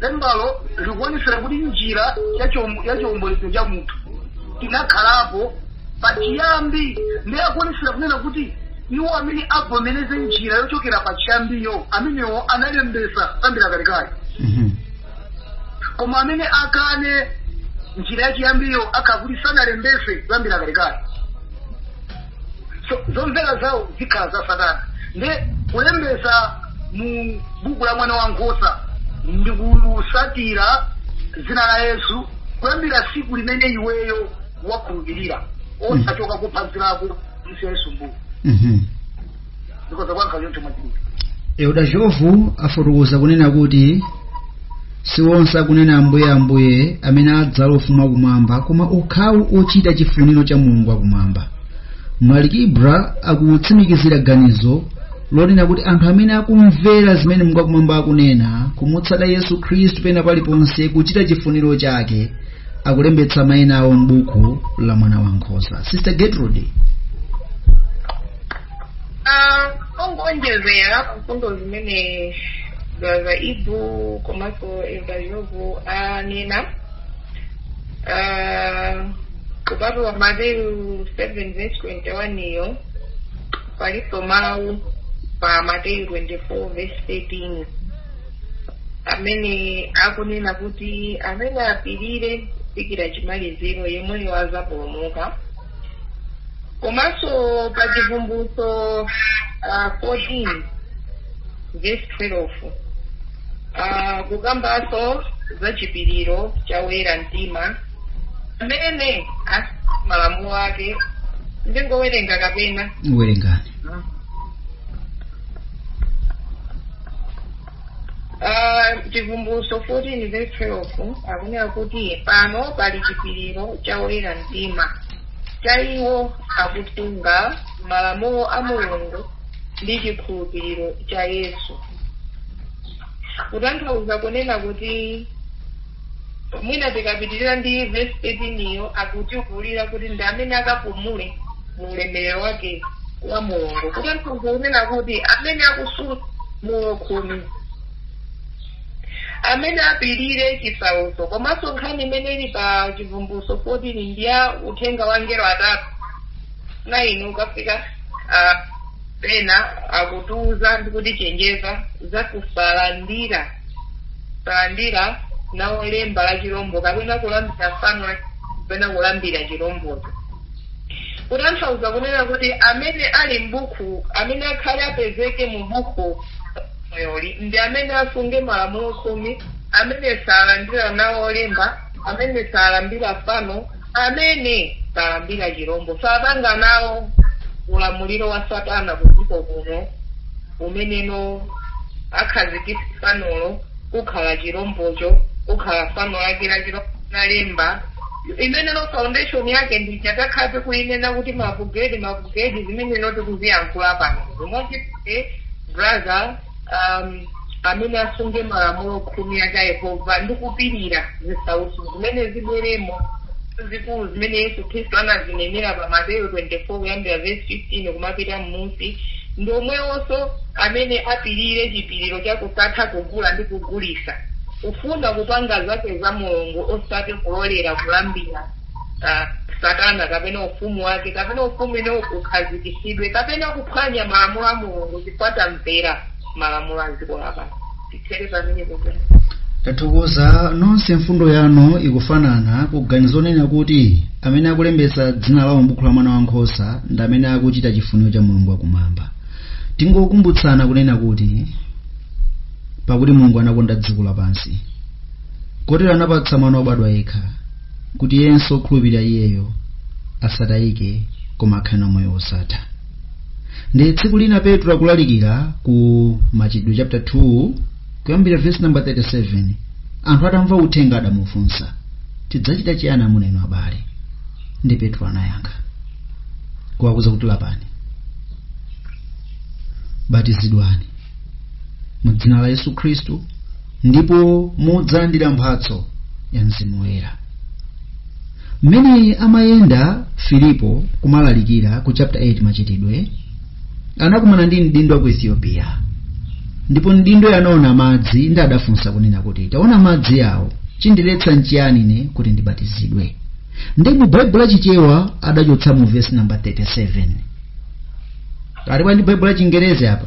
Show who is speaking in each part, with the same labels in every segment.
Speaker 1: lembalo likuonetsera kuti njira ya chiom- ya chiombolezo cha munthu inakhalapo pachiyambi ndiye akuonetsera kunena kuti iwo amene avomereze njira yochokera pachiyambiyo amenewo analembesa kuyambira kalekale Mhm. koma amene akane njira yachiyambiyo akakuti sanalembese kuyambira kalekale so zomvera zawo zikhala za satana ndiye kulembesa mu buku la mwana wa nkhosa ndi kusatira dzina la yesu kuyambira siku limene iweyo wakhulupirira osachoka kuphunzirako msi yesu mbuku Mhm. ndikhoza kuyankha
Speaker 2: choncho mwachidule eudachovu afotokoza kunena kuti si onse akunena ambuye ambuye amene adzalowa ufumu wakumwamba koma okhawo ochita chifuniro cha mulungu wakumwamba mlaliki ibra akutsimikizira ganizo lonena kuti anthu amene akumvera zimene mulungu wakumwamba akunena kumutsata yesu khristu pena paliponse kuchita chifuniro chake akulembetsa maina awo m'buku la mwana wa nkhosa sister gertrude Ah,
Speaker 3: ongonjezera mfundo zimene za ibu komanso evayovu anena Ah, kupatula mateyu 7 verse 21 iyo palinso mawu pa mateyu 24 verse 13 amene akunena kuti amene apirire kufikira chimaliziro yemweyo azapulumuka komanso pa chivumbulutso uh, 14 verse 12 uh, kukambanso za chipiriro cha woyera mtima amene malamulo ake ndingowerenga kapena werengani Ah, chivumbulutso 14 verse 12 akunena kuti pano pali chipiriro cha oyera mtima cha iwo akusunga malamulo a mulungu ndi chikhulupiriro cha yesu kutanthauza kunena kuti Mwina tikapitirira ndi vesi 13 iyo akutiululira kuti ndi amene akapumule mu ulemerero wake wa Mulungu, kutanthauza kunena kuti amene akusunga Malamulo Khumi, amene apirire chisautso. Komanso nkhani imene ili pa Chivumbulutso 14 ndi ya uthenga wa angelo atatu, 9 ukafika ah, pena akutiuza ndi kutichenjeza za kusalandira salandira nawo lemba la chirombo kapena kulambira fano la kapena kulambira chirombocho kutanthauza kunena kuti amene ali m'buku amene akhale apezeke mu buku la moyoli ndi amene asunge malamulo khumi amene salandira nawo lemba amene salambira fano Amene salambira chirombo sapanga nawo ulamuliro wa Satana kudziko kuno, umeneno akhazikitsa fanolo kukhala chirombocho, kukhala fano lake la chirombo ndi lemba limenelo foundation yake ndija takhala tikuinena kuti ma Bill Gates ma Bill Gates zimeneno tikuziyankhula pano zomwe brother amene asunge malamulo khumi aja a Yehova ndi kupirira zisautso zimene zibweremo zikulu zimene Yesu Khristu anazinenera pa Mateyu 24 kuyambira verse 15 kumapita m'munsi ndi omwewonso amene apirire chipiriro cha kusatha kugula ndi kugulitsa kufuna kupanga zake za Mulungu osati kulolera kulambira ah, satana kapena ufumu wake kapena ufumu ino ukhazikitsidwe kapena kuphwanya malamulo a mulungu chifukwa tamvera malamulo a dziko lapansi tithere pamene popena tathokoza
Speaker 2: nonse mfundo yanu ikufanana kuganizo lonena kuti amene akulembetsa dzina lawo m'buku la mwana wankhosa ndi amene akuchita chifuniro cha mulungu wakumwamba tingokumbutsana kunena kuti pakuti mulungu anakonda dziko lapansi kotero anapatsa mwana wobadwa yekha kuti yense okhulupirira iyeyo asatayike koma akhale na moyo wosatha ndi tsiku lina petro akulalikira ku machitidwe chapter 2 kuyambira verse number 37 anthu atamva uthenga adamufunsa tidzachita chiyani amuna inu abale ndi petro anayankha kuwauza kuti lapani batizidwani mu dzina la yesu khristu ndipo mudzalandira mphatso ya mzimu woyera mmene amayenda filipo kumalalikira ku chapter 8 machitidwe anakumana ndi mdindo wa ku ethiopia ndipo mdindo ataona madzi ndi adafunsa kunena kuti taona madzi awo chindiletsa nchiyani ine kuti ndibatizidwe ndi mu baibulo la chichewa adachotsamo vesi namba 37 alipo ali ndi baibulo la chingerezi apa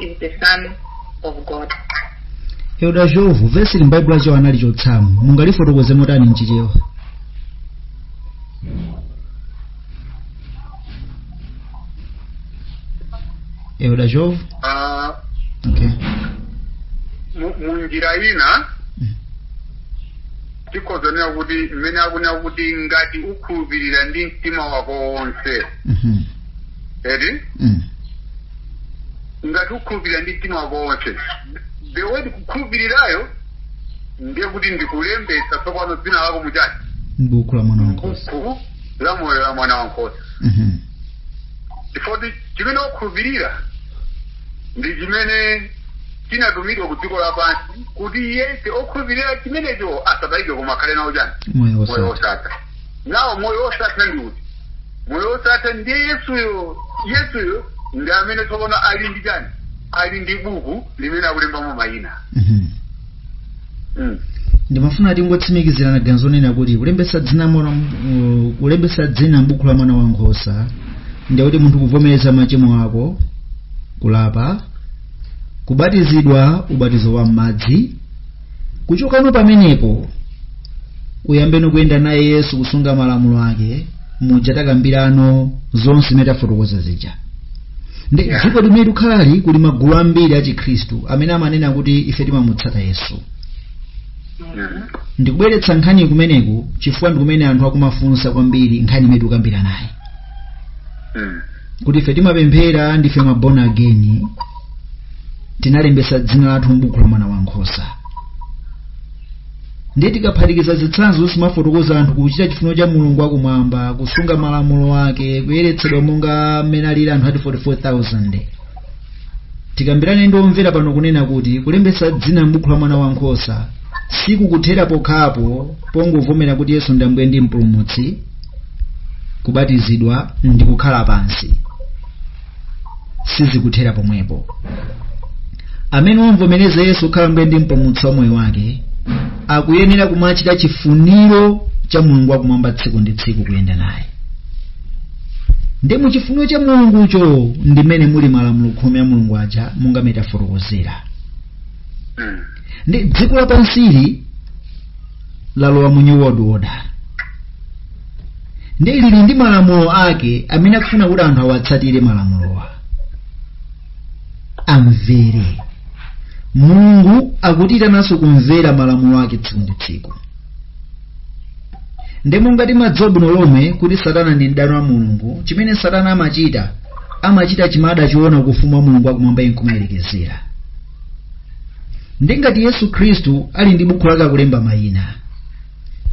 Speaker 3: is the Son of
Speaker 2: God. elda jovu vesi ili m'baibulo la chichewa analichotsamo mungalifotokoze motani mchichewa elda jovu Ah, okay
Speaker 1: mu- mu njira ina Mm. tikhoza kunena kuti mmene akunena kuti ngati ukhulupirira ndi mtima wako wonse Mhm. eti mm. ngati ukhulupirira ndi mtima wako wonse the word kukhulupirirayo ndiye kuti ndikulembetsa tsopano dzina lako muchani m'buku la mwana
Speaker 2: wankhosa mbuku la moyo
Speaker 1: la mwana wankhosa Mhm. chifukwa choti chimene wakhulupirira ndi chimene chinatumidwa ku dziko lapansi kuti yense okhulupirira chimenecho asatayike koma akhale nawo chani moyo moyo wosatha wosatha nawo moyo wosatha ndi uti moyo wosatha ndiye yesuyo yesuyo ndi amene tsopano ali ndi chani ali ndi buku limene akulembamo mayina Mhm. mm.
Speaker 2: ndimafuna tingotsimikizirana ganizo lonena kuti kulembetsa dzina mwana uh, kulembetsa dzina m'buku la mwana wa nkhosa ndiye kuti munthu kuvomereza machimo ako kulapa kubatizidwa ubatizo wa m'madzi kuchokano pamenepo uyambeno kuyenda naye yesu kusunga malamulo ake muja takambirano zonse zimene tafotokoza zija ndi Yeah. dziko limene tikukhalali kuli magulu ambiri a chikhristu amene amanena kuti ife timamutsatata yesu Mm. ndikubweretsa nkhani kumeneku chifukwa ndikumene anthu akumafunsa kwambiri nkhani imene tikukambiranayi Mm. kuti ife timapemphera ndife ma born again tinalembetsa dzina lathu m'buku la mwana wa nkhosa ndiye tikaphatikiza zitsanzo zimafotokozazi anthu kuchita chifuniro cha mulungu wakumwamba kusunga malamulo ake kuyeretsedwa monga mmene alili anthu ati 44000 tikambirane ndi omvera pano kunena kuti kulembetsa dzina m'buku la mwana wankhosa sikukuthera pokhapo pongovomera kuti yesu ndi ambuye ndi mpulumutsi kubatizidwa ndi kukhala pansi sizikuthera pomwepo amene wamvomereza yesu kukhala ambuye ndi mpulumutsi wa moyo wake akuyenera kumachita chifuniro cha mulungu wakumwamba tsiku ndi tsiku kuyenda naye ndiye mu chifuniro cha mulungucho ndimene muli malamulo khumi a mulungu aja monga mmene tafotokozera Mm. ndi dziko lapansili lalowa mu new world order ndiye lili ndi malamulo ake amene akufuna kuti anthu awatsatire malamulowa amvere mulungu akutiitananso kumvera malamulo ake tsiku ndi tsiku ndiye monga timadziwa bwino lomwe kuti satana ndi mdani wa mulungu chimene satana amachita amachita chimene adachiona ku ufumu wa mulungu wakumwamba nkumayerekezera ndi ngati yesu khristu ali ndi bukhu lake akulemba mayina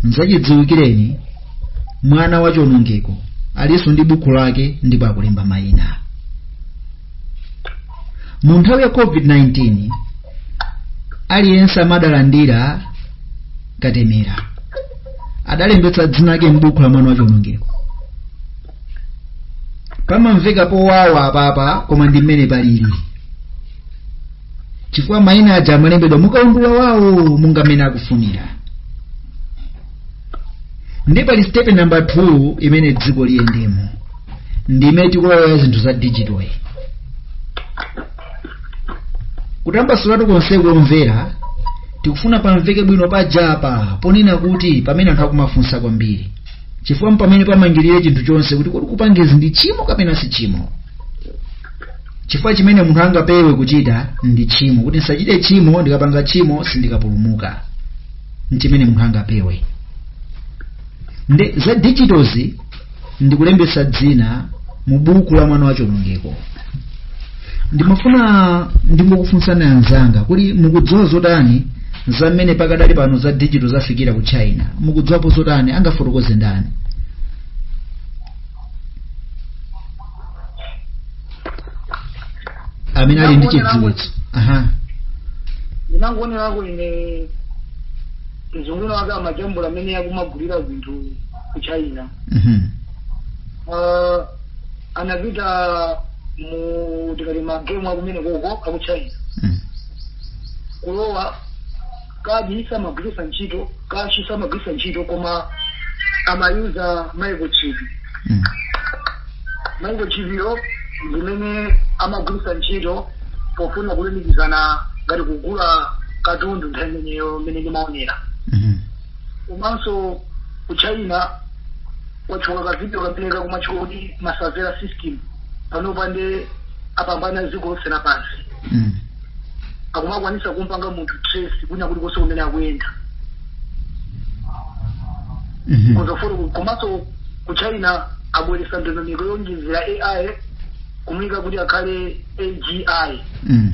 Speaker 2: n'zachidziwikireni mwana wa chionongeko alinso ndi bukhu lake ndipo akulemba mayina mu nthawi ya covid-19 aliyense amene adalandira katemera adalembetsa dzina lake m'buku la mwana wa chionongeko pamamveka powawa apapa koma ndi mmene palili chifukwa mayina aja amalembedwa mukaundula wawo monga mmene akufunira ndi pali stepe namba 2 imene dziko liyendemo ndime tikulowa zinthu za digital iyi kutambasulatu konseko omvera tikufuna pamveke bwino pajapa ponena kuti pamene anthu akumafunsa kwambiri chifukwa mpamene pamangirire chinthu chonse kuti kodi kupangezi ndi tchimo kapena si tchimo chifukwa chimene munthu angapewe kuchita ndi tchimo kuti ndisachite tchimo ndikapanga tchimo sindikapulumuka nchimene munthu angapewe nde za digitozi ndi kulembetsa dzina mu buku la mwana wa chionongeko ndimafuna ndingokufunsani anzanga kuti mukudziwa zotani za mmene pakadali pano za digital zafikira ku china mukudziwapo zotani angafotokoze ndani amene ali ndi chidziwitso aha
Speaker 1: ndinangoonera kuti ine mzungu wina wake amajambula amene akumagulira zinthu ku china Mhm. uh, anapita mu tikati magemu akumeneko aku china Mm. kulowa kadi samagwiritsa ntchito kashi samagwiritsa ntchito koma amayuza microchip Mm. microchip yo ndimene amagwiritsa ntchito pofuna kulumikizana ngati kugula katundu nthawi imeneyo imene ndimaonera Mhm. komanso ku china watchula ka video kamene kakumatchula kuti ma surveillance system panopa nde apambana dziko lonse lapansi Mm. akumakwanisa kumpanga munthu trace kwina kuti konse kumene akuyenda Mhm. komanso ku china abweretsa ndondomeko yonjezera ai kumuyika kuti akhale agi Mm.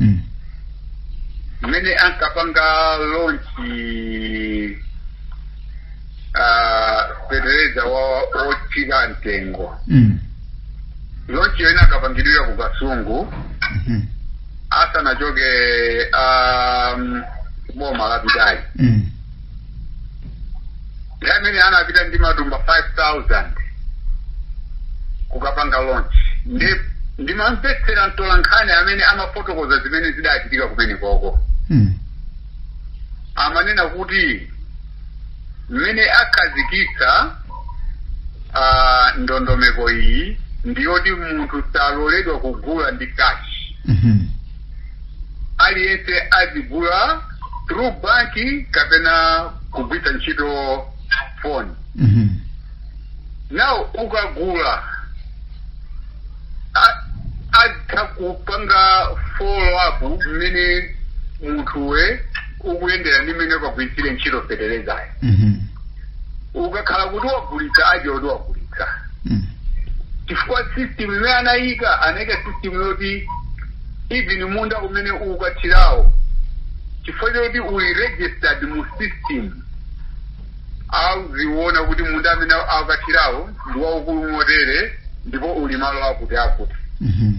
Speaker 4: Mm. mmene ankapanga lonchi ah, fetereza wa otsika mtengo Mm. lonchi yoyamba inakapangidwira ku kasungu Mhm. asanachoke um, boma lapitali Mm. nthawi imene anapita ndi matumba 5000 kukapanga launch ndimamvetsera mtolankhani amene amafotokoza zimene zidachitika kumenekoko Mm. amanena kuti mmene akhazikitsa ah, ndondomeko iyi ndiyoti munthu saloledwa kugula ndi kashi Mhm. aliyense azigula through banki kapena kugwiritsa ntchito phone Mhm. now ukagula a- atha kupanga follow up mmene munthuwe ukuyendera ndi mmene ukagwiritsire ntchito fetelezayo Mhm. ukakhala kuti wagulitsa aziwe kuti wagulitsa Mm. chifukwa system imene anayika anayika system yoti even munda umene ukukathirawo chifukwa choti uli registered mu system auziona kuti munda amene akukathirawo ndi waukulu motere ndipo uli malo akuti akuti Mhm.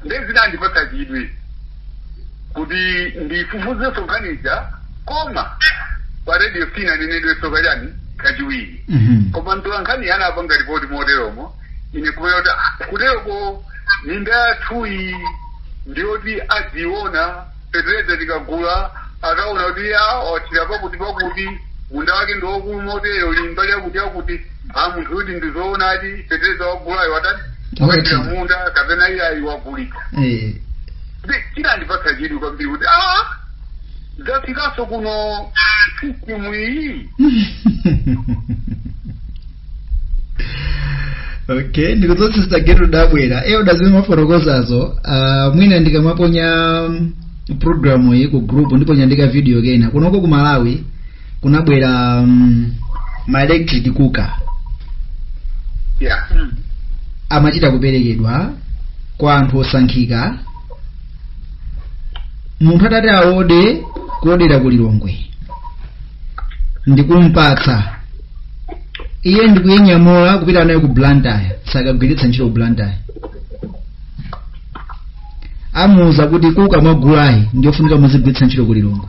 Speaker 4: nde zinandipatsa chidwi kuti ndifufuzenso nkhani ija koma pa radio sinanenedwenso kachani kachiwiri Mhm. koma mtola nkhani anapanga ripoti moteromo ine nkumanena kuti "Ah, kuteroko minda yathuyi ndiyoti adziona fetereza tikagula akaona kuti ya wathira pakuti pakuti munda wake ndiwaukulu motero uli mbali yakuti yakuti a munthu kuti ndizoonadi fetereza wagulayo watani Wathira. wathira mmunda kapena iyayi wagulitsa Eh, ndi chinandipatsa chidwi kwambiri kuti a zafikanso kuno sistimu iyi
Speaker 2: okay ndikudziwa sister gertrude tabwera eya pazimene mwafotokozazo uh, mwina ndikamaponya mm, programu iyi ku group ndiponya ndika video kena kunoko ku malawi kunabwera um, ma electric cooker yeah Mm. amachita kuperekedwa kwa anthu osankhika munthu atati aode kuodera ku lilongwe ndikumpatsa iye ndikuinyamula kupita nayo ku blantyre sakagwiritsa ntchito ku blantyre imuuza kuti kuka mwagulayi ndiyofunika muzigwiritsa ntchito ku lilongwe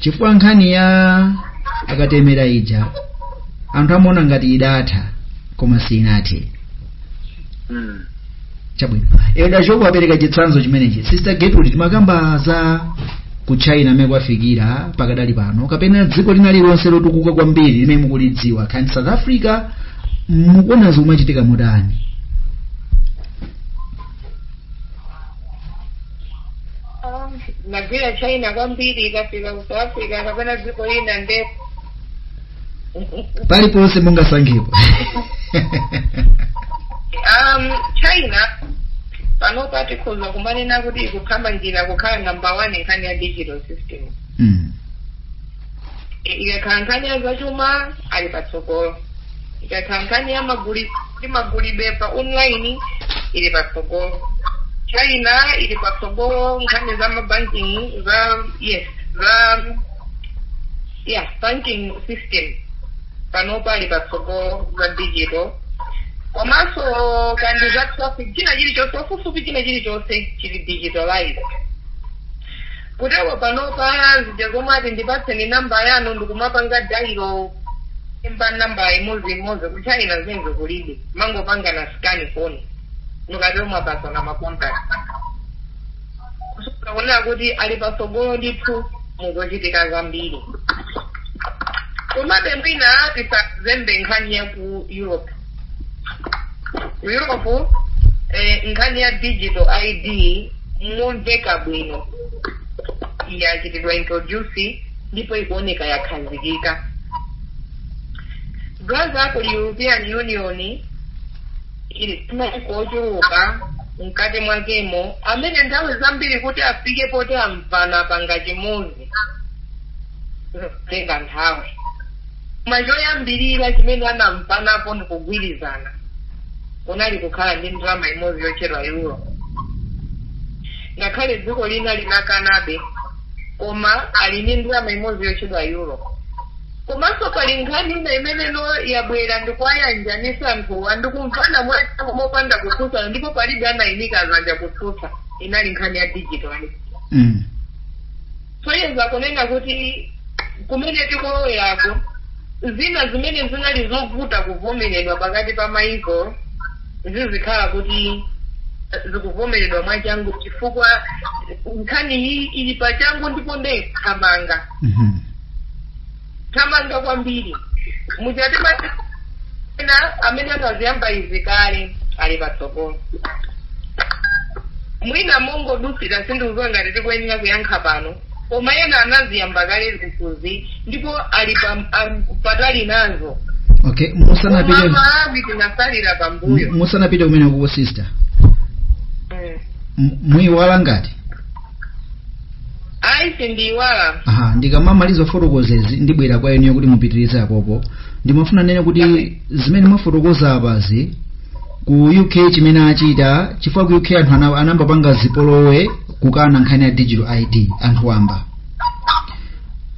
Speaker 2: chifukwa nkhani ya akatemera ija anthu amaona ngati idatha koma siinathe Mm. chabwino elda shopu apereka chitsanzo chimenechi sister getrude timakamba za ku china mmene kwafikira pakadali pano kapena dziko lina lilonse lotukuka kwambiri limene mukulidziwa kaya ndi south africa mukuona zikumachitika motani
Speaker 3: Ah, nagwira china kwambiri kaya ndi ku south africa kapena dziko lina nde
Speaker 2: paliponse mungasankhepo
Speaker 3: um, china panopa tikhoza kumanena kuti ikuthamangira kukhala number one nkhani ya digital system mm. ikakhala nkhani ya zachuma ali patsogolo ikakhala nkhani ya magulidwe pa online ili patsogolo China ili patsogolo nkhani za mabanking za yes za yeah banking system panopa ali patsogolo za digital komanso kandi za traffic china chilichonse ofufupi china chilichonse chili digitalized Kutero panopa zija zomati ndipatseni number yanu ndikumapanga dailo kulemba number imodzi imodzi ku China zimenezo kulibe mumangopangana scan phone mukatero mwapatsana ma contact kusonyeza kunena kuti ali patsogolo ndithu muzochitika zambiri komabe mwina tisazembe nkhani ya ku Europe ku europe eh, nkhani ya digital id momveka bwino yachitidwa introduce ndipo ikuoneka yakhazikika paja ku european union muli maiko ochuluka mkati mwakemo amene nthawi zambiri kuti afike poti amvana panga chimodzi zimatenga nthawi Koma choyambirira chimene anamvanapo ndi kugwirizana kunali kukhala ndi ndalama imodzi yotchedwa euro. Ngakhale dziko lina linakanabe, koma ali ndi ndalama imodzi yotchedwa euro. Komanso pali nkhani ina imeneno yabwera ndi kuwayanjanitsa anthuwa ndi kumvana mwachangu mopanda kutsutsana ndipo palibe anaimika zanja kutsutsa, inali nkhani ya digital ID. Mm. Kusonyeza kunena kuti kumene tikuloweraku, zina zimene zinali zovuta kuvomeredwa pakati pa mayiko zizikhala kuti zikuvomeredwa mwachangu chifukwa nkhaniyi ili pachangu ndipo ndi yothamanga. Mhm. thamanga kwambiri mujati ena amene anaziyamba izi kale ali patsogolo mwina mongodutsira sindikudziwa ngati tikuyenera kuyankha pano koma ena anaziyamba kale zinthuzi ndipo ali pa- am- patali nazo okay
Speaker 2: koma musanapite malawi tinatsalira pambuyo musanapite kumeneko sister Mm. M- muyiwala ngati
Speaker 3: ayi sindiyiwala aha
Speaker 2: ndikamamaliza kufotokozezi ndibwera kwa inuyo kuti mupitirize apopo ndimafuna ndinene kuti Amen. zimene mwafotokoza apazi ku uk chimene achita chifukwa ku uk anthu ana- anambapanga zipolowe kukana nkhani ya digital id anthu wamba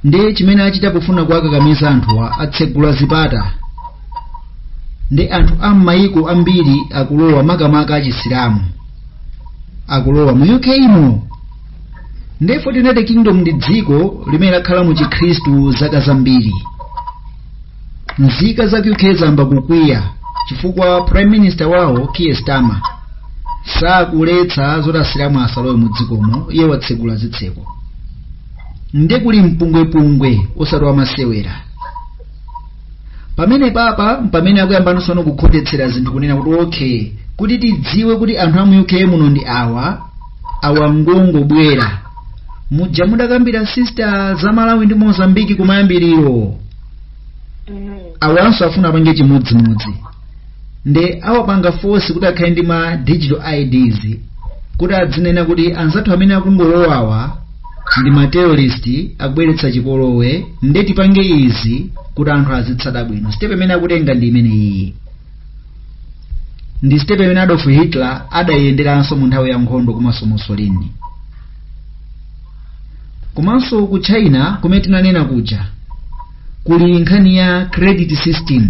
Speaker 2: ndiye chimene achita pofuna kuwakakamiza anthuwa atsegula zipata ndi anthu a m'mayiko ambiri akulowa makamaka achisilamu akulowa mu uk imo ndipo united kingdom ndi dziko limene lakhala mu chikhristu zaka zambiri nzika za uk zayamba kukwiya chifukwa prime minister wawo keir starmer sakuletsa zoti asilamu asalowe mu dzikomo iye watsegula zitseko nde kuli mpungwepungwe osati wamasewera pamenepapa mpamene akuyamba tsono kukhotetsera zinthu kunena kuti okay kuti tidziwe kuti anthu amu uk muno ndi awa awa ngongobwera muja mudakambira sister za malawi ndi mozambiki kumayambiriro awanso afuna apange chimodzimodzi nde awapanga force kuti akhale ndi ma digital ids kuti adzinena kuti anzathu amene akungolowawa ndi ma terrorist akubweretsa chipolowe nde tipange izi kuti anthu azitsata bwino step imene akutenga ndi imene iyi ndi step imene adolf hitler adaiyenderanso mu nthawi ya nkhondo komanso mussolini komanso ku china kumene tinanena kuja kuli nkhani ya credit system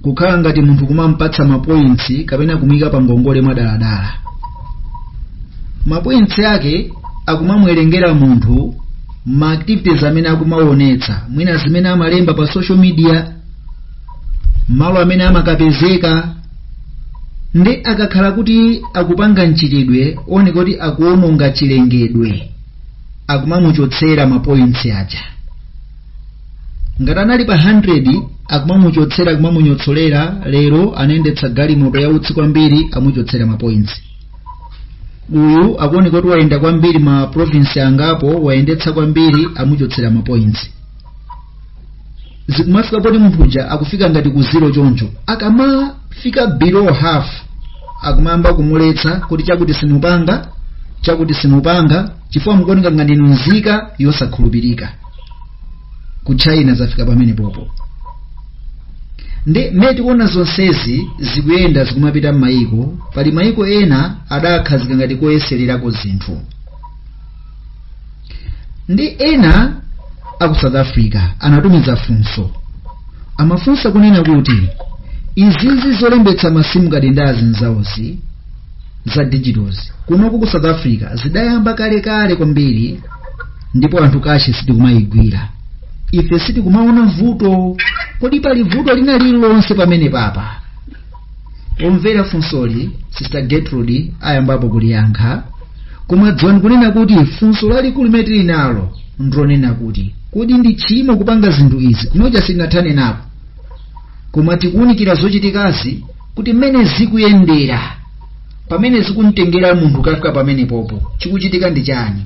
Speaker 2: kukhala ngati munthu kumampatsa mapointsi kapena kumuyika pa ngongole mwadaladala mapointsi ake akumamwerengera munthu ma activities amene akumaonetsa mwina zimene amalemba pa social media malo amene amakapezeka nde akakhala kuti akupanga mchitidwe oneka kuti akuononga chilengedwe akumamuchotsera mapointsi aja ngati anali pa 100 akumamuchotsera akumamunyotsolera lero anayendetsa galimoto yautsi kwambiri amuchotsera mapointsi uyu akuoneka kuti wayenda kwambiri ma province angapo wayendetsa kwambiri amuchotsera mapointsi zikumafika poti munthu uja akufika ngati ku zero choncho akamafika below half akumayamba kumuletsa kuti chakuti simupanga chakuti simupanga chifukwa mukuoneka ngati inu nzika yosakhulupirika ku china zafika pamenepopo nde mmene tikuona zonsezi zikuyenda zikumapita m'mayiko pali mayiko ena adawakhazika ngati koyesererako zinthu nde ena a ku south africa anatumiza funso amafunsa kunena kuti izizi zolembetsa masimu kadi ndi zinzakezi za digitals kunoku ku south africa zidayamba kalekale kwambiri ndipo anthu kashi sitikumayigwira ife sitikumaona vuto kodi pali vuto lina lililonse pamenepapa pomvera funsoli sister gertrude ayambapo kuliyankha koma dziwani kunena kuti funso lalikulu limene tili nalo ndilonena kuti kodi ndi tchimo kupanga zinthu izi kunoja sitinathane napo koma tikuwunikira zochitikazi kuti mmene zikuyendera pamene zikumtengera munthu kukafika pamene popo chikuchitika ndi chiyani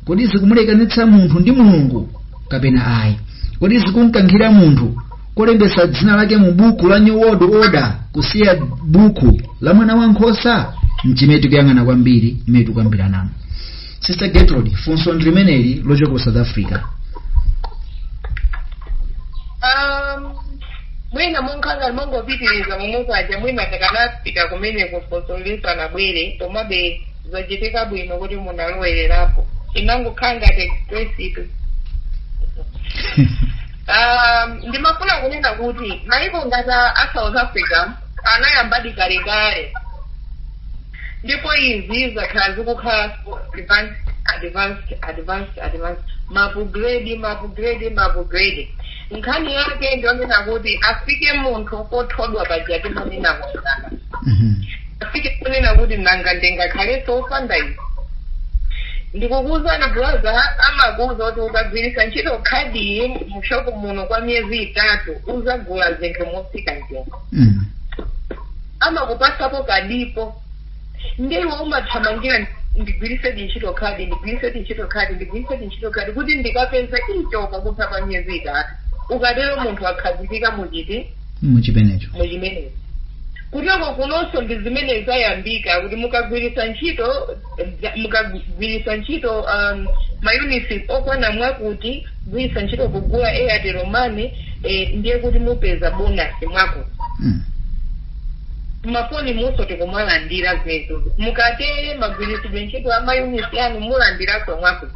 Speaker 2: kodi zikumulekanitsa munthu ndi mulungu kapena ayi kodi zikumkankhira munthu kolembetsa dzina lake mu buku la new world order kusiya buku la mwana wa nkhosa nchimene tikuyang'ana kwambiri imene tikukambiranamo sister gertrude funso ndi limeneli lochoka ku south africa
Speaker 3: Um, mwina munkhanga mongopitiriza mumukaja mwina takanapita kumene kufosolisa nabwere komabe zachitika bwino kuti munalowererapo inangokhanga tekisitu Aaa ndimafuna kunena kuti maiko ngati a south africa anayambadi kalekale ndipo izi zakhala zikukhala so advanced advanced advanced advanced mapugredi mapugredi mapugredi nkhani yake ndiyonena kuti afike munthu pothodwa paja timanena kuchipatala afike kunena kuti nanga ndingakhalenso wopanda izi ndikukuuzani brother amakuuza kuti ukagwiritsa ntchito khadi mushopu muno kwa miyezi itatu uzagula zinthu motsika mtengo amakupasapo kadipo ndiwo umathamangira ndigwiritse ntchito khadi ndigwiritse ntchito khadi ndigwiritse ntchito khadi kuti ndikapeze icho pakutha pa miyezi itatu ukatero munthu akhazikika muchiti
Speaker 2: muchimenecho mu
Speaker 3: chimenechi kuteko kunonso ndi zimene zayambika kuti mukagwiritsa ntchito za- mukagwiritsa ntchito um, mayunitsi okwana mwakuti kugwiritsa ntchito kugula airtel money eh, ndiye kuti mupeza bonasi mwakuti mmafoni umunso tikumalandira zinthu mukatere magwiritsidwe ntchito a mayunitsi anu mulandiranso mwakuti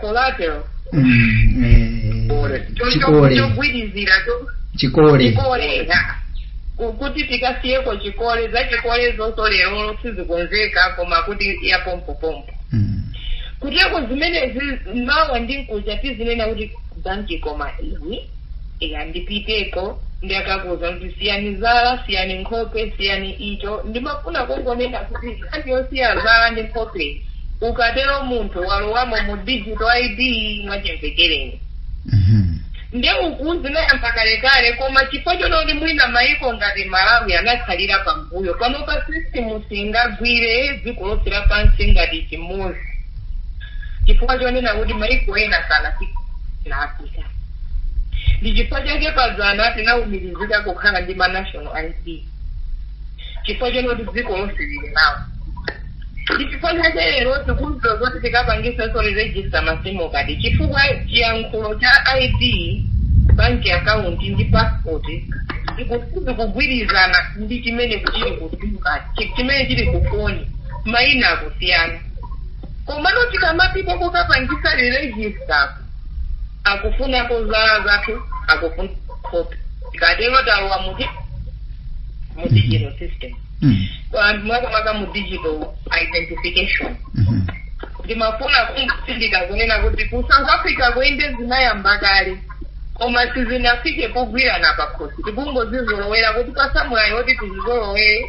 Speaker 3: collateral chogwirizira chikole chikole kuti tikasiyeko chikole za chikole zonse lero sizikonzeka koma kuti yapompopompo kuteko zimenezi mawa ndi mkuja tizinena kuti banki koma izi eya ndipiteko nde akakuuza kuti siyani zala siyani nkhope siyani icho ndimafuna kungonena kuti nkhani yosiya zala ndi nkhope ukatero munthu walowamo mu digital id mwachimvekere Mhm. nde uku zinayamba kalekale koma chifukwa chonoti mwina maiko ngati malawi anakhalira pambuyo panopa sisitimu singagwire dziko lonse lapansi ngati chimodzi chifukwa chonena kuti maiko ena sanafika ngati africa ndi chifukwa chake padzana tinaumirizika kukhala ndi ma national id chifukwa chonoti dziko lonse lili nawo ndi chifukwa chake lero tikudziwa zoti tikapangisa zolejisita ma sim kadi chifukwa chiyankhulo cha id bank account ndi passport zikuyenera kugwirizana ndi chimene chili kutuka chimene chili kufoni maina akusiyana komano tikamapita kokapangisa register ku akufunako zala zathu akufuna copy tikatero talowa mu di- mu digital system Mm. anthu mwakamaka mu digital identification Mhm. ndimafuna kutsindika kunena kuti ku south africa kuja nde zinayamba kale koma sizinafike pogwirana pakhosi tikungozizolowera kuti apatsa mwayi oti tizizolowere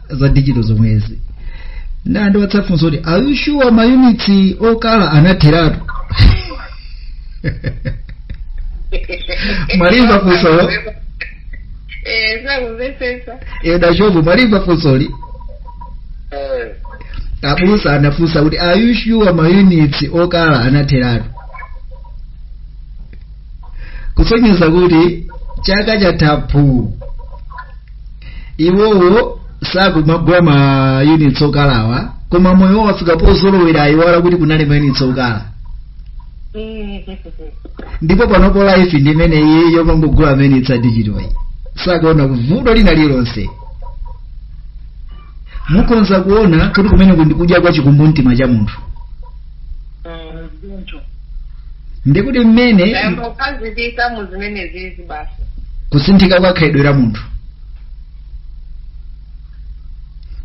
Speaker 2: za digital zomwezi nde ndiwapatsa funso kuti are you sure mayunitsi okala anatheratu mwalimva funsoli Eh, sakumvetsetsa
Speaker 3: edashovu
Speaker 2: mwalimva funsoli Eh, abusa anafunsa kuti are you sure mayunitsi okala anatheratu kusonyeza kuti chaka chathachi iwowo sakumagula ma units okalawa koma moyo wawo wafika pozolowera ayiwala kuti kunali ma units okala ndipo panopo life ndi imeneyi yomangogula ma units a digital iyi sakuona vuto lina lilonse mukhoza kuona kuti kumeneku ndi kudya kwa chikumbumtima cha munthu Mm, choncho ndikuti mmene tayamba kukhazikika mu zimenezizi basi kusinthika kwa khalidwe la munthu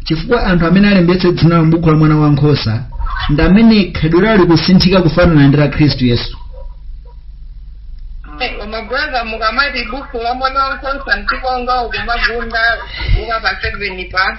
Speaker 2: chifukwa anthu amene alembetse dzina la m'buku la mwana wa nkhosa ndi amene khalidwe lawo likusinthika kufanana ndi la khristu
Speaker 3: yesu koma brother mukamati buku la mwana wa nkhosa mtikonga ukumagunda ukapa seven pa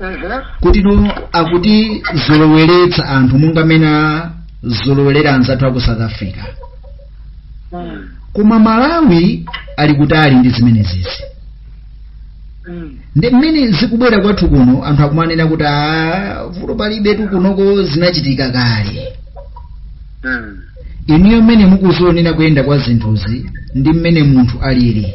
Speaker 2: Mhm. kuti no akutizoloweretsa anthu monga mmene azolowerera anzathu aku south africa Mm. koma malawi ali kutali ndi zimenezizi Mm. ndi mmene zikubwera kwathu kuno anthu akumanena kuti "Ah, vuto palibe tu kunoko zinachitika kale Mm. inuyo mmene mukuzionera kuyenda kwa zinthuzi ndi mmene munthu alili